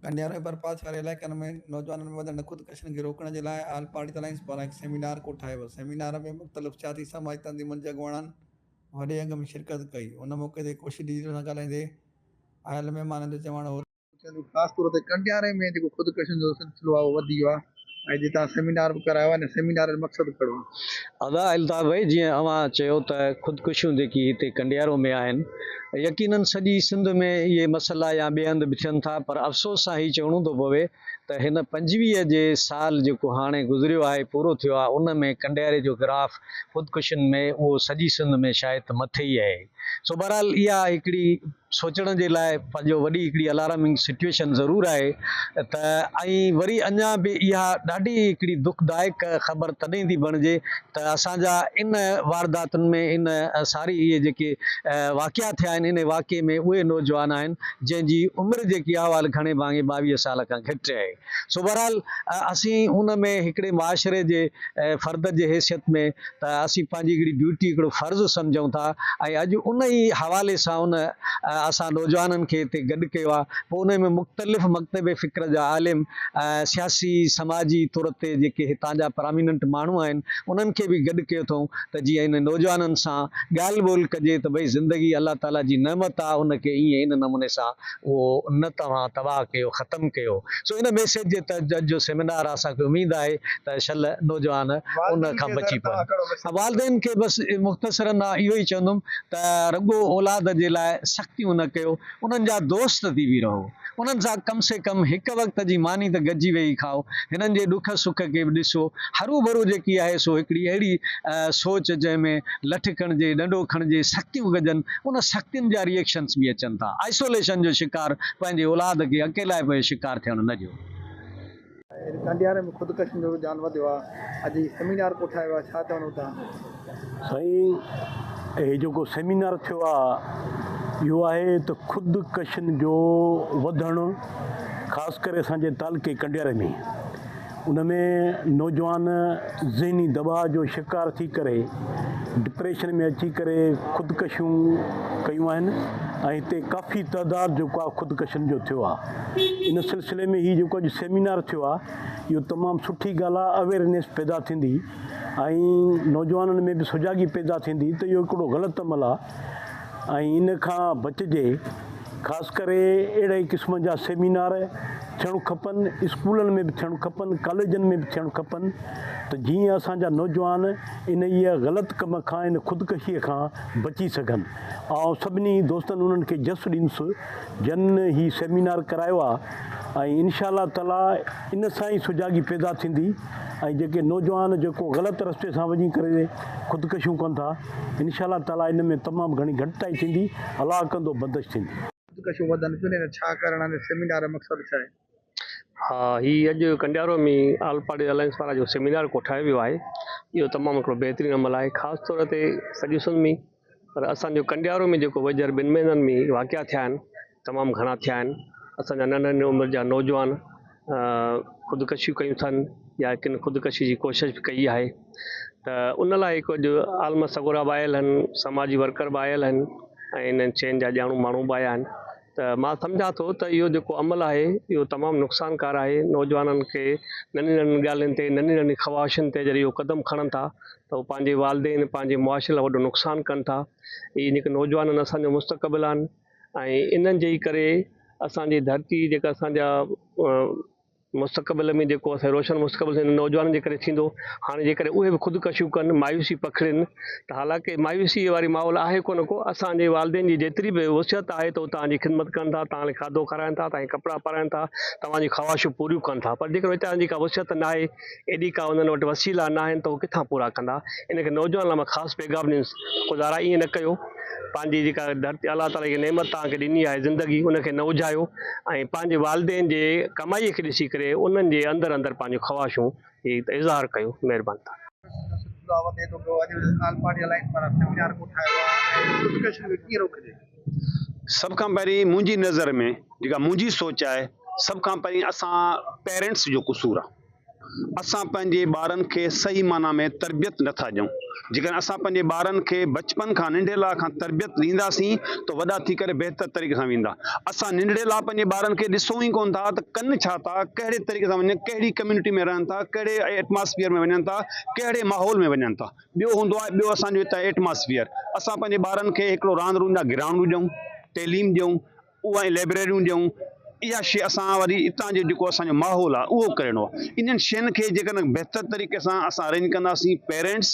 گنڊياهه ۽ برپاس واري علائقن ۾ نوجوانن ۾ وڌندڙ خودڪشين کي روڪڻ جي لاء آل پارٽيز الائنس پاران هڪ سيمينار ڪوٺايو ويو. سيمينار ۾ مختلف سياسي سماجي تنظيمن جي اڳواڻن وڏي انگ ۾ شرڪت ڪئي. ان موقعي تي ڪوشش ڊيجيٽل سان ڳالهائيندي آيل مهمانن جو چوڻ هو ته. چوڻ هو ته خاص طور تي گنڊياهه ۾ جيڪو خودڪشين جو سلسلو آهي اهو وڌي ويو آهي. ۽ جتان سيمينار به ڪرايو آهي ان سيمينار جو مقصد ڪهڙو آهي؟ ادا الطاف ڀائي جيئن اوهان چيو ته خودڪشيون جيڪي هتي ڪنڊيارو ۾ آهن يقينن سڄي سنڌ ۾ اهي مسئلا يا ٻئي هنڌ به ٿين ٿا پر افسوس سان هي چوڻو ٿو پوي ته هن پنجويهه جي سال جيڪو هاڻي گذريو آهي پورو ٿيو آهي ان ۾ ڪنڊياري جو گراف خودڪشين ۾ اهو سڄي سنڌ ۾ شايد ته مٿي ئي اهي سو بهرحال اها هڪڙي سوچڻ جي لاء پنهنجو وڏي هڪڙي الارمنگ سچوئيشن ضرور آهي ته ۽ وري اڃا به اها ڏاڍي هڪڙي دکدائڪ خبر تڏهن ٿي بڻجي ته اسان جا ان وارداتن ۾ ان ساري اهي جيڪي واقعا ٿيا آهن ان واقعي ۾ اهي نوجوان آهن جنهن جي عمر جيڪي احوال گهڻي ڀاڱي ٻاويهه سال کان گهٽ آهي. سو بهرحال اسين ان ۾ هڪڙي معاشري جي فرد جي حيثيت ۾ ته اسين پنهنجي هڪڙي ڊيوٽي هڪڙو فرض سمجهون ٿا ۽ اڄ ان ئي حوالي سان ان اسان نوجوانن کي هتي گڏ ڪيو آهي پوء ان ۾ مختلف مڪتب فڪر جا عالم سياسي سماجي طور تي جيڪي هتان جا پراميننٽ ماڻهو آهن انهن کي به گڏ ڪيو اٿئون ته جيئن انهن نوجوانن سان ڳالهه ٻولهه ڪجي ته ڀئي زندگي الله تعالي جي نعمت آهي ان کي ائين ان نموني سان اهو نه توهان تباهه ڪيو ختم ڪيو سو ان ميسيج جي تحت اڄ جو سيمينار اسان کي اميد آهي ته شل نوجوان ان کان بچي پون والدين کي بس مختصرا آ اهو ئي چوندم ته رڳو اولاد جي لاء سختيون نه ڪيو انهن جا دوست ٿي به رهو انهن سان ڪم سي ڪم هڪ وقت جي ماني ته گڏجي ويهي کائو هنن جي ڏک سک کي به ڏسو هروڀرو جيڪي آهي سو هڪڙي اهڙي سوچ جنهن ۾ لٺ کڻجي ڏنڊو کڻجي سختيون ڪجن ان سختين جا ريئيڪشنز به اچن ٿا. آئسوليشن جو شڪار پنهنجي اولاد کي اڪيلائپ جو شڪار ٿيڻ نه ڏيو. اڄ ڪانڊياري ۾ خودڪشين جو رجحان وڌيو آ اڄ هي سيمينار ڪوٺايو آ ڇا چوندو تنهن؟ سائين هي جيڪو سيمينار ٿيو آ اهو آهي ته خود ڪشين جو وڌڻ خاص ڪري اسان جي تعلقي ڪنڊياري ۾ ان ۾ نوجوان ذهني دٻاء جو شڪار ٿي ڪري ڊپريشن ۾ اچي ڪري خودڪشيون ڪيون آهن ۽ هتي ڪافي تعداد جيڪو آهي خودڪشن جو ٿيو آهي ان سلسلي ۾ هي جيڪو اڄ سيمينار ٿيو آهي اهو تمام سٺي ڳالهه آهي اويرنيس پيدا ٿيندي ۽ نوجوانن ۾ به سجاڳي پيدا ٿيندي ته اهو هڪڙو غلط عمل آهي ۽ ان کان بچجي، خاص ڪري اهڙي قسم جا سيمينار ٿيڻ کپن، اسڪولن ۾ به ٿيڻ کپن، ڪاليجن ۾ به ٿيڻ کپن ته جيئن اسان جا نوجوان انهيء غلط ڪم کان، ان خودڪشيء کان بچي سگهن. آئون سڀني دوستن انهن کي جس ڏيندس جن هي سيمينار ڪرايو آهي ۽ انشاء الله تعاليٰ ان سان ئي سجاڳي پيدا ٿيندي. ۽ جيڪي نوجوان جيڪو غلط رستي سان وڃي ڪري خودڪشيون ڪن ٿا انشاء الله تعالي ان ۾ تمام گهڻي گهٽتائي ٿيندي الله ڪندو بندش ٿيندي. خودڪشيون وڌن پيون ته ڇا ڪرڻ آهي ان سيمينار جو مقصد ڇا آهي؟ ها هي اڄ ڪنڊيارو ۾ آل پارٽي الائنس پاران جو سيمينار ڪوٺايو ويو آهي اهو تمام هڪڙو بهترين عمل آهي خاص طور تي سڄي سنڌ ۾ پر اسان جو ڪنڊيارو ۾ جيڪو ويجهر ٻن مهينن ۾ ئي واقعا ٿيا آهن، تمام گهڻا ٿيا آهن. اسان جا ننڍ ننڍ عمر جا نوجوان خودڪشيون ڪيون اٿن يا ڪن خودڪشي جي ڪوشش به ڪئي آهي ته ان لاء هڪ اڄ عالم سڳورا به آيل آهن، سماجي ورڪر به آيل آهن ۽ انهن شين جا ڄاڻو ماڻهو به آيا آهن. ته مان سمجهان ٿو ته اهو جيڪو عمل آهي اهو تمام نقصانڪار آهي نوجوانن کي ننڍين ننڍين ڳالهين تي ننڍين ننڍين خواهشن تي جڏهن اهو قدم کڻن ٿا ته اهو پنهنجي والدين پنهنجي معاشري لاء وڏو نقصان ڪن ٿا اهي جيڪي نوجوان آهن اسان جو مستقبل آهن ۽ انهن جي ئي ڪري اسان جي ڌرتي جيڪا اسان جا مستقبل ۾ جيڪو اسان جو روشن مستقبل انهن نوجوانن جي ڪري ٿيندو، هاڻي جيڪڏهن اهي به خودڪشيون ڪن، مايوسي پکڙين ته حالانڪه مايوسيء واري ماحول آهي ڪونه ڪو، اسان جي والدين جي جيتري به وسعت آهي ته هو توهان جي خدمت ڪن ٿا، توهان کي کاڌو کارائين ٿا، توهان کي ڪپڙا پارائين ٿا، توهان جون خواهشون پوريون ڪن ٿا، پر جيڪڏهن ويچارن جي ڪا وسعت ناهي، ايڏي ڪا انهن وٽ وسيلا ناهن ته هو ڪٿان پورا ڪندا. ان ڪري نوجوانن لاء مان خاص پيغام ڏيندس ته خدا را ائين نه ڪيو. پنهنجي جيڪا ڌرتي الله تعاليٰ جيڪا نعمت توهان کي ڏني آهي زندگي ان کي نه اجهايو ۽ پنهنجي والدين جي ڪمائي کي ڏسي ڪري انهن جي اندر اندر پنهنجون خواهشون جي اظهار ڪيو. مهرباني ٿا. سلسلو دعوت ايتو ته اڄ آل پارٽي الائنس پاران سيمينار ڪوٺايو ويا آهن ۽ ڊسڪشن کي ڪيئن روڪجي. سڀ کان پهرين منهنجي نظر ۾ جيڪا منهنجي سوچ آهي سڀ کان پهرين اسان پيرنٽس جو قصور آهي اسان پنهنجي ٻارن کي صحيح معنيٰ ۾ تربيت نٿا ڏيون جيڪڏهن اسان پنهنجي ٻارن کي بچپن کان ننڍيلا کان تربيت ڏينداسين ته وڏا ٿي ڪري بهتر طريقي سان ويندا اسان ننڍيلا پنهنجي ٻارن کي ڏسون ئي ڪون ٿا ته ڪن ڇا ٿا ڪهڙي طريقي سان وڃن ڪهڙي ڪميونٽي ۾ رهن ٿا ڪهڙي ايٽماسفيئر ۾ وڃن ٿا ڪهڙي ماحول ۾ وڃن ٿا ٻيو هوندو آهي ٻيو اسان جو هتان جو ايٽماسفيئر اسان پنهنجي ٻارن کي هڪڙو راند روند جا گرائونڊون ڏيون تعليم ڏيون اها لئبريريون ڏيون اها شي اسان وري هتان جو جيڪو اسان جو ماحول آهي اهو ڪرڻو آهي انهن شين کي جيڪڏهن بهتر طريقي سان اسان ارينج ڪنداسين پيرنٽس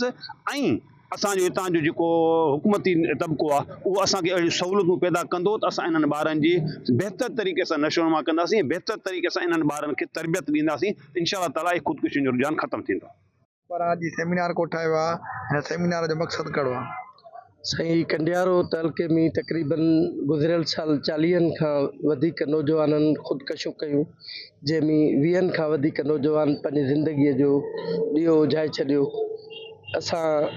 ۽ اسان جو هتان جو جيڪو حڪومتي طبقو آهي اهو اسان کي اهڙيون سهولتون پيدا ڪندو ته اسان انهن ٻارن جي بهتر طريقي سان نشو نما ڪنداسين بهتر طريقي سان انهن ٻارن کي تربيت ڏينداسين انشاء الله تعالٰي خودڪشين جو رجحان ختم ٿيندو پر اڄ هي سيمينار ڪوٺايو آ هن سيمينار جو مقصد ڪهڙو آ. سائين ڪنڊيارو تعلقي ۾ تقريباً گذريل سال چاليهن کان وڌيڪ نوجوانن خودڪشيون ڪيون جنهن ۾ ويهن کان وڌيڪ نوجوان پنهنجي زندگي جو ڏيئو اجهائي ڇڏيو اسان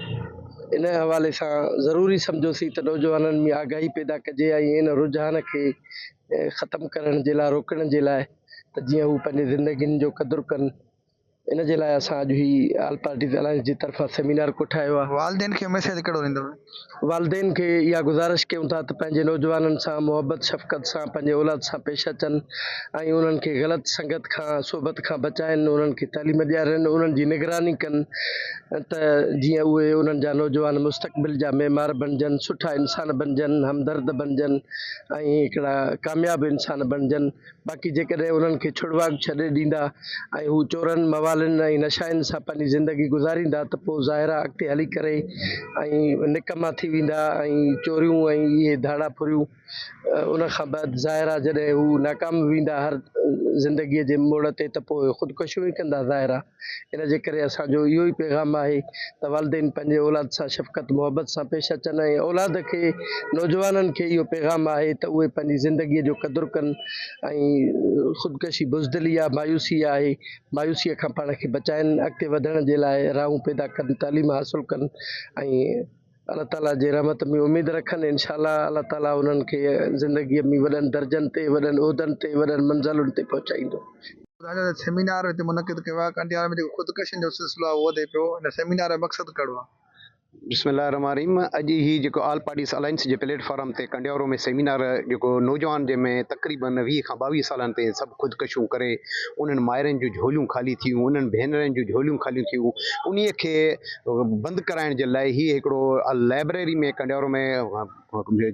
ان حوالي سان ضروري سمجهيوسين ته نوجوانن ۾ آگاهي پيدا ڪجي ۽ ان رجحان کي ختم ڪرڻ جي لاء روڪڻ جي لاء ته جيئن هو پنهنجي زندگين جو قدر ڪن. ان جي لاء اسان اڄ هي آل پارٽيز الائنس جي طرفان سيمينار ڪوٺايو آهي. والدين کي ميسيج ڪهڙو ڏيندؤ؟ والدين کي اها گذارش ڪيون ٿا ته پنهنجي نوجوانن سان محبت شفقت سان پنهنجي اولاد سان پيش اچن ۽ انهن کي غلط سنگت کان صحبت کان بچائين انهن کي تعليم ڏيارين انهن جي نگراني ڪن ته جيئن اهي انهن جا نوجوان مستقبل جا معمار بڻجن سٺا انسان بڻجن همدرد بڻجن ۽ هڪڙا ڪامياب انسان بڻجن. باقي جيڪڏهن انهن کي ڇڙواڳ ڇڏي ڏيندا ۽ هو چورن، موالين ۽ نشائين سان پنهنجي زندگي گذاريندا ته پوء ظاهر آهي اڳتي هلي ڪري اهي نڪما ٿي ويندا ۽ چوريون ۽ اهي ڌاڙا ڦريون ان کان بعد ظاهر آهي جڏهن هو ناڪام ويندا هر زندگيء جي موڙ تي ته پوء خودڪشيون ئي ڪندا ظاهر آهي ان جي ڪري اسان جو اهو ئي پيغام آهي ته والدين پنهنجي اولاد سان شفقت محبت سان پيش اچن ۽ اولاد کي نوجوانن کي اهو پيغام آهي ته اهي پنهنجي زندگي جو قدر ڪن ۽ خودڪشي بزدلي آهي مايوسي آهي مايوسي کان پاڻ کي بچائن اڳتي وڌڻ جي لاء راهون پيدا ڪن تعليم حاصل ڪن ۽ الله تعالي جي رحمت ۾ اميد رکن انشاء الله الله تعالي انهن کي زندگي ۾ وڏن درجن تي وڏن عهدن تي وڏن منزلن تي پهچائيندو. ٻڌائجو ته سيمينار هتي منعقد ڪيو ويو آهي ڪنڊيار ۾ جيڪو خودڪشين جو سلسلو آهي اهو وڌي پيو هن سيمينار جو مقصد ڪهڙو آهي؟ بسم الله الرحمٰن الرحيم اڄ هي جيڪو آل پارٽيز الائنس جي پليٽ فارم تي ڪنڊيارو ۾ سيمينار جيڪو نوجوان جنهن ۾ تقريبن ويهه کان ٻاويهه سالن تائين سڀ خودڪشيون ڪري انهن مائرن جون جهوليون خالي ٿيون انهن ڀينرن جون جهوليون خاليون ٿيون انهي کي بند ڪرائڻ جي لاء هي هڪڙو لائبريري ۾ ڪنڊيارو ۾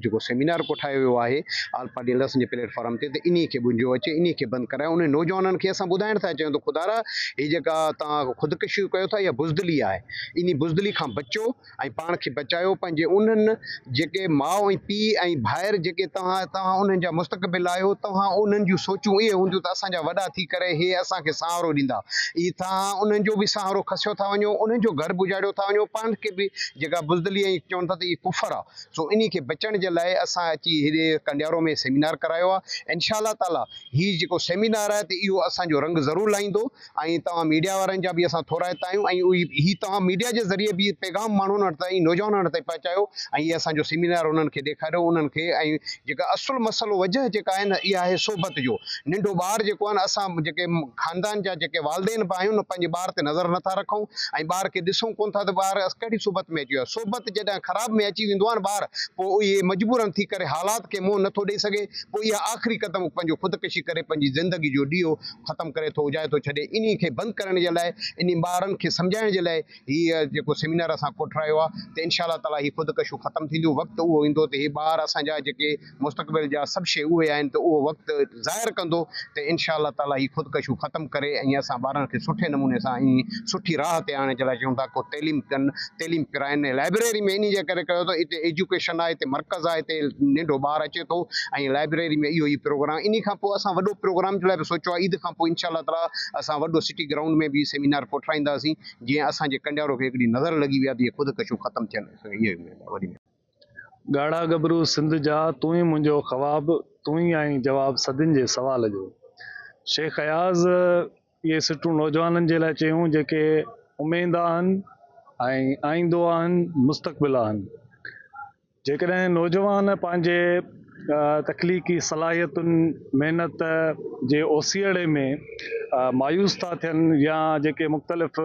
جيڪو سيمينار ڪوٺايو ويو آهي آل پارٽي اليئنس جي پليٽ فارم تي ته انهي کي ٻنجو اچي انهي کي بند ڪرائي انهن نوجوانن کي اسان ٻڌائڻ ٿا چاهيون ته خدارا هي جيڪا توهان خودڪشيون ڪيو ٿا اها بزدلي آهي انهي بزدلي کان بچو ۽ پاڻ کي بچايو پنهنجي انهن جيڪي ماء ۽ پيء ۽ ڀائر جيڪي توهان توهان انهن جا مستقبل آهيو توهان انهن جون سوچون اهي هونديون ته اسان جا وڏا ٿي ڪري هي اسان کي سهارو ڏيندا اي توهان انهن جو به سهارو کسيو ٿا وڃو انهن جو گهر به اجاڙيو ٿا وڃو پاڻ کي به جيڪا بزدلي ۽ چون ٿا ته اهي ڪفر آ سو انهي کي بچڻ جي لاء اسان اچي هيڏي ڪنڊيارو ۾ سيمينار ڪرايو آ انشاء الله تعالي هي جيڪو سيمينار آهي ته اهو اسان جو رنگ ضرور لائيندو. ۽ توهان ميڊيا وارن جا به اسان ٿورائتا آهيون ۽ هي توهان ميڊيا جي ذريعي به پيغام ماڻهن وٽ تائين نوجوانن وٽ تائين پهچايو ۽ هي اسان جو سيمينار انهن کي ڏيکاريو انهن کي ۽ جيڪا اصل مسئلو وجهه جيڪا آهي نه اها آهي صحبت جو ننڍو ٻار جيڪو آهي نه اسان جيڪي خاندان جا جيڪي والدين به آهيون نه پنهنجي ٻار تي نظر نٿا رکون ۽ ٻار کي ڏسون ڪون ٿا ته ٻار ڪهڙي صحبت ۾ اچي ويو صحبت جڏهن خراب ۾ اچي ويندو آهي نه ٻار پوء اهي مجبورن ٿي ڪري حالات کي منهن نٿو ڏئي سگهي پوء اها آخري قدم پنهنجو خودڪشي ڪري پنهنجي زندگي جو ڏيئو ختم ڪري ٿو اجائي ٿو ڇڏي انهي کي بند ڪرڻ جي لاء انهي ٻارن کي سمجهائڻ جي لاء هي جيڪو سيمينار اسان ڪوٺرايو آ ته انشاء الله تعالي هي خودڪشيون ختم ٿينديون وقت اهو ايندو ته هي ٻار اسان جا جيڪي مستقبل جا سڀ شي اهي آهن ته اهو وقت ظاهر ڪندو ته انشاء الله تعالي هي خودڪشيون ختم ڪري ۽ اسان ٻارن کي سٺي نموني سان ۽ سٺي راهه تي آڻڻ جي لاء چون ٿا ڪو تعليم ڪن تعليم پرائن لائبريري ۾ انهي جي ڪري ڪيو اٿئون هتي ايجوڪيشن آهي هتي مرڪز آهي هتي ننڍو ٻار اچي ٿو ۽ لائبريري ۾ اهو هي پروگرام انهي کان پوء اسان وڏو پروگرام جي لاء به سوچيو آهي عيد کان پوء انشاء الله تعالي اسان وڏو سٽي گرائونڊ ۾ به سيمينار ڪوٺرائينداسين جيئن اسان جي ڪنڊيارو کي هڪڙي نظر لڳي ويا ته هي خود ڪشيون ختم ٿين اسان کي اهو اميد آهي وڏي ڳاڙها ڳڀرو سنڌ جا تون ئي منهنجو خواب تون ئي آهين جواب صدين جي سوال جو شيخ اياز. اهي سٽون نوجوانن جي لاء چيون جيڪي اميد آهن ۽ آئيندو آهن مستقبل آهن جيڪڏهن نوجوان پنهنجي تخليقي صلاحيتن محنت جي اوسيئڙي ۾ مايوس ٿا ٿين يا جيڪي مختلف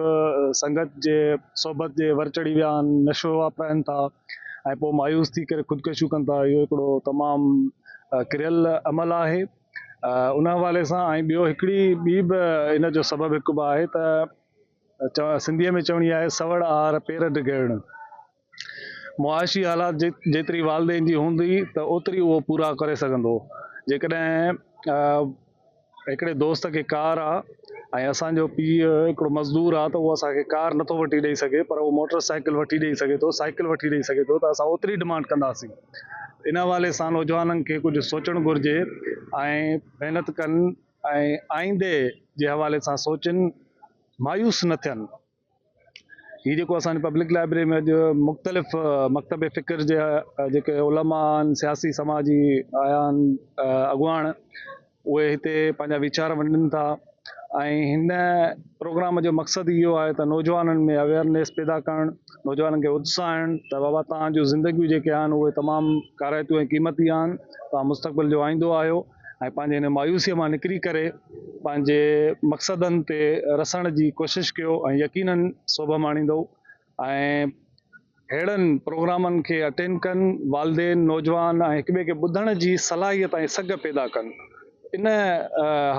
سنگت جي صحبت جي ور چڙهي ويا آهن نشو واپرائن ٿا ۽ پوء مايوس ٿي ڪري خودڪشيون ڪن ٿا اهو هڪڙو تمام ڪريل عمل آهي. ان حوالي سان ۽ ٻيو هڪڙي ٻي به ان جو سبب هڪ به آهي ته سنڌيء ۾ چوڻي آهي سوڙ آهر پير ڊگهڙڻ معاشي حالات جيتري والدين جي هوندي ته اوتري اهو پورا ڪري سگهندو جيڪڏهن هڪڙي دوست کي ڪار آ ۽ اسان جو پيء هڪڙو مزدور آ ته اهو اسان کي ڪار نٿو وٺي ڏئي سگهي پر اهو موٽر سائيڪل وٺي ڏئي سگهي ٿو سائيڪل وٺي ڏئي سگهي ٿو ته اسان اوتري ڊمانڊ ڪنداسين ان حوالي سان نوجوانن کي ڪجهه سوچڻ گهرجي ۽ محنت ڪن ۽ آئيندي جي حوالي سان سوچن مايوس نه ٿين هي جيڪو اسان پبلڪ لائبريري ۾ اڄ مختلف مڪتب فڪر جي جيڪي علماء سياسي سماجي آيا اڳواڻ اهي هتي پنهنجا ويچار ونڊن ٿا ۽ هن پروگرام جو مقصد اهو آهي ته نوجوانن ۾ اويرنيس پيدا ڪرڻ نوجوانن کي اتساهڻ ته بابا توهان جون زندگيون جيڪي آهن اهي تمام ڪارائتيون ۽ قيمتي آهن توهان مستقبل جو آئيندو آهيو ۽ پنهنجي هن مايوسيء مان نڪري ڪري پنهنجي مقصدن تي رسڻ جي ڪوشش ڪيو ۽ يقينن سوڀ ماڻيندؤ ۽ اهڙن پروگرامن کي اٽينڊ ڪن، والدين، نوجوان ۽ هڪٻئي کي ٻڌڻ جي صلاحيت ۽ سگهه پيدا ڪن، ان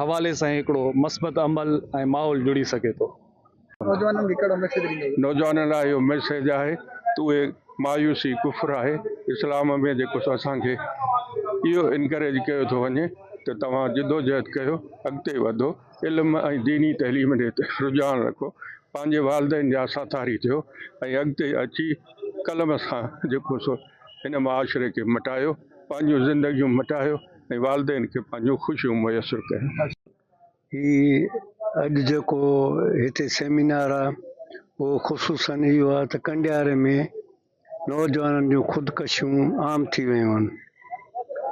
حوالي سان ئي هڪڙو مثبت عمل ۽ ماحول جڙي سگهي ٿو. نوجوانن کي ڪهڙو ميسيج ڏيندو اهي؟ نوجوانن لاء اهو ميسيج آهي ته اهي مايوسي ڪفر آهي، اسلام ۾ جيڪو سو اسان کي اهو انڪريج ڪيو ٿو وڃي ته توهان جدوجهد ڪيو اڳتي وڌو، علم ۽ ديني تعليم ڏي رجحان رکو، پنهنجي والدين جا ساٿاري ٿيو ۽ اڳتي اچي قلم سان جيڪو سو هن معاشري کي مٽايو، پنهنجون زندگيون مٽايو ۽ والدين کي پنهنجون خوشيون ميسر ڪيو. هي اڄ جيڪو هتي سيمينار آ اهو خصوصن اهو آ ته ڪنڊياري ۾ نوجوانن جون خودڪشيون عام ٿي ويون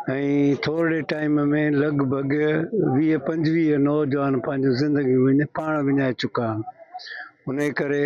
آهن ۽ ٿورڙي ٽائيم ۾ لڳ ڀڳ ويهه پنجويهه نوجوان پنهنجون زندگيون پاڻ وڃائي چڪا آهن انهي ڪري